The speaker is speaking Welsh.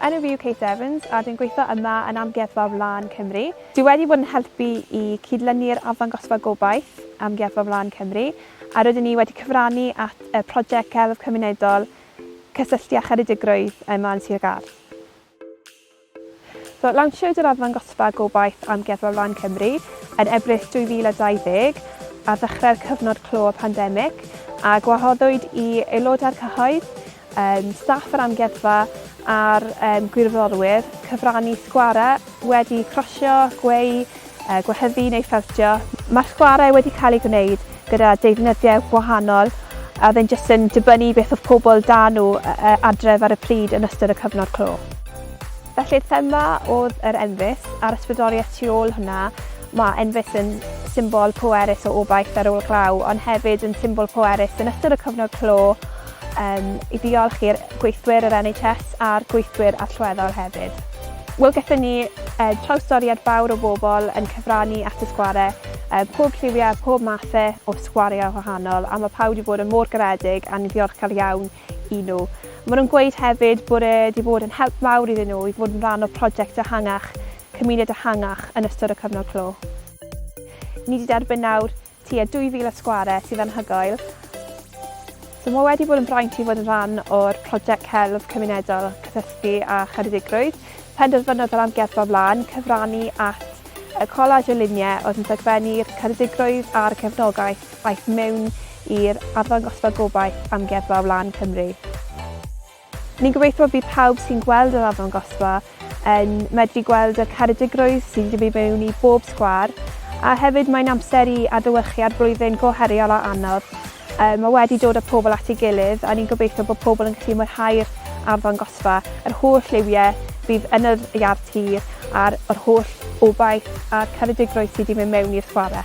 Enw fi yw Kate Evans a dwi'n gweithio yma yn Amgueddfa Wlân Cymru. Dwi wedi bod yn helpu i cyd-lynu'r arddangosfa gobaith Amgueddfa Wlân Cymru a rydyn ni wedi cyfrannu at y prosiect celf cymunedol Cysylltu â Cheredigrwydd yma yn Sir Gâr. Lawnsiwyd yr arddangosfa Gobaith Amgueddfa Flaen Cymru yn Ebrill 2020 ar ddechrau'r cyfnod clo y pandemig a gwahoddwyd i aelodau'r cyhoedd, staff yr amgueddfa a'r gwirfoddolwyr cyfrannu sgwarau wedi crosio, gweu, gwehyddu neu ffeltio. Mae'r chwarae wedi cael ei gwneud gyda deyrnyddiau gwahanol a oedd e'n jyst yn dibynnu beth oedd pobl 'da nhw adref ar y pryd yn ystod y cyfnod clo. Felly'r thema oedd yr enfys a'r ysbrydoliaeth tu ôl hwnna. Mae enfys yn symbol pwerus o obaith ar ôl glaw ond hefyd yn symbol pwerus yn ystod y cyfnod clo. Yym, i ddiolch i'r gweithwyr yr NHS a'r gweithwyr allweddol hefyd. Wel, gaethon ni yy trawstoriad fawr o bobl yn cyfrannu at y sgware, yy pob lliwiau, pob mathe o sgwariau gwahanol, a ma' pawb wedi bod yn mor garedig a ni'n ddiolchgar iawn i nhw. Maen nhw'n gweud hefyd bod e 'di bod yn help mawr iddyn nhw i fod yn rhan o prosiect ehangach, cymuned ehangach yn ystod y cyfnod clo. Ni 'di derbyn nawr Tua 2,000 o sgwarau sydd anhygoel. So mae wedi bod yn fraint i fod yn rhan o'r prosiect celf cymunedol Cysylltu â Cheredigrwydd. Penderfynodd yr Amgueddfa Wlân cyfrannu at y collage o luniau oedd yn dogfennu'r Ceredigrwydd a'r cefnogaeth aeth mewn i'r arddangosfa gobaith Amgueddfa Wlân Cymru. Ni'n gobeithio bydd pawb sy'n gweld yr arddangosfa yn medru gweld y caredigrwydd sydd wedi mynd mewn i bob sgwâr, a hefyd mae'n amser i adlewyrchu ar flwyddyn go heriol a anodd yy ma' wedi dod â pobl at ei gilydd a ni'n gobeithio bod pobl yn gallu mwynhau'r arddangosfa, yr holl liwie fydd yn yr iard tir a'r yr holl obaith a'r caredigrwydd sydd wedi mynd mewn i'r sgware.